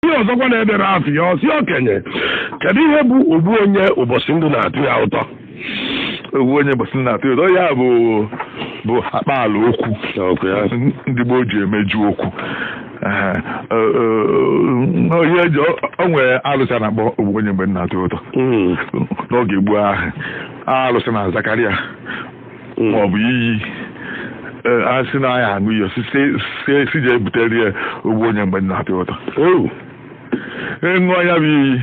ndị ọzọkwa na-edere afa ya ọ sị okenye kedu ihe bụ ogbu onye ụbọsị ndụ na-atụ ya ụtọ ogbu onye ụbọsị ndụ na-atụ ya ụtọ ya bụ bụ akpaala okwu ndị gboo ji emeju okwu onye ji o nwere alụsị a na-akpọ ogbu onye mgbe ndụ na-atụ ya ụtọ hmm. n'oge gboo ahụ alụsị na-azakarị ya hmm. maọbụ iyi e, a sị na ya aṅụ iyi si je butere ya ogbu onye mgbe na-atụ ụtọ ọ ṅụọ e, ya bụ iyi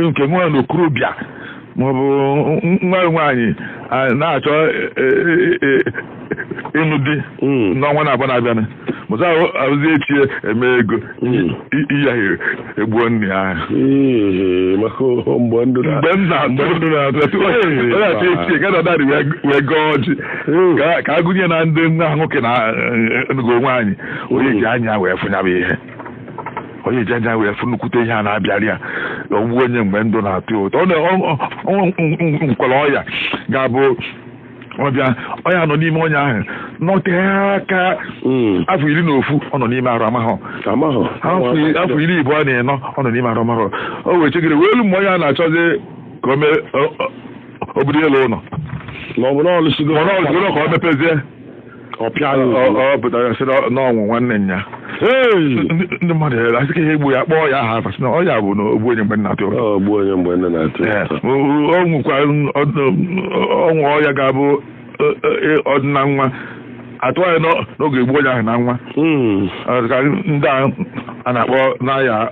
e, nke nwa okorobịa maọbụ nwa nwaanyị na-achọ ịnụ di hmm. n'ọnwa na-abụ na-abịanụ mụta arụzi echi eme ego hmm. iyi ahụ egbuo nne ya hmm, mgbe ndụ na-atụ echi gada dadị wee gọọ ọjị ka a gụnye na ndị nwa nwoke na eh, eh, ngo nwaanyị onye ji anya wee fụ nya bụ ihe onye ji anya wee fụ nnukwute ihe a na-abịara ya ogbu onye mgbe ndụ na-atụ ụtọ ọ na o nwere ọya ga-abụ ọ bịa onye ọ nọ n'ime onye ahụ nọtee aka Mm. afọ iri na ofu ọ nọ n'ime arụ amahụ Amahụ. afọ afọ iri ịbụa na ịnọ ọ nọ n'ime arụ amahụ o wee chegide wee luo mgbe onye a na-achọzi ka o mee o- o- obodo elu ụnọ Ma ọ bụ na ọ lụsigo. ma ọ na-ọzụrụ ka ọ mepezie ọ pịa ya Ọ- ozugbo. ọ pụtara ya sị na ọ- na ọnwụ nwanne nya Hey! ndị ndị mmadụ ya asị ka ihe egbu ya kpọọ ya aha afa sị na ọ ya bụ na ogbu onye mgbe ndụ na-atụ ụtọ ogbu onye mgbe ndụ na-atụ Ee, ụtọ o- o- o nwekwa o nwe ọya ga-abụ ọ- ọ- ọ dị na awa atụ anyị n'oge egbu onye ahụ na awa Mm. Ọ dị ka ndị a a na-akpọ n'aya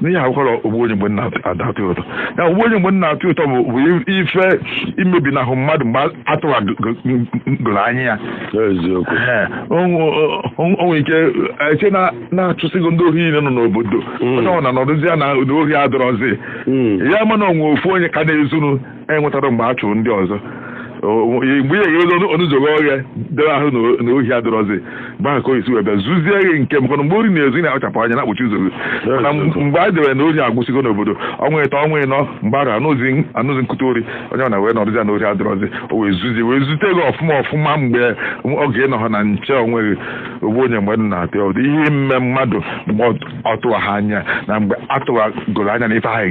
n'ihi akwụkwọrọ ogbu onye mgbe na-atụ ụtọ ya ogbu onye mgbe ndụ na-atụ ụtọ bụ ife imebinahụ mmadụ mgbe a tụwagoro anya ya o nwe ike e chee na achụsịgo ndị ohi niile nọ n'obodo hmm. onye ọ na nọdụzi ya na ohi adọrọzi hmm. ya mana o nwe ofu onye ka na-ezunu enwetaro mgbe a chụrụ ndị ọzọ mgbe ị ghere ọnụ ụzọ oghe ọhịa dere ahụ na ohi adịrọzi mgbe ahụ ka o si wee bịa zuzie gị nke maka mgbe ori na-ezu ị na-akpachapụ anya na-akpọchi ụzọ gị mana mgbe a debere na ohi agwụsịgo n'obodo ọnwa ịtọ ọnwa ịnọ mgbe a anụzi nkụta ori onye ọ na wee nọrụzi na ohi adịrọzi o wee zuzie wee zute gị ọfụma ọfụma mgbe oge ị nọha na nche onwe gị ogbu onye mgbe ndụ na-atụ ụtọ ihe ime mmadụ mgbe ọ tụwaha anya na mgbe a tụwagoro anya na ife ahụ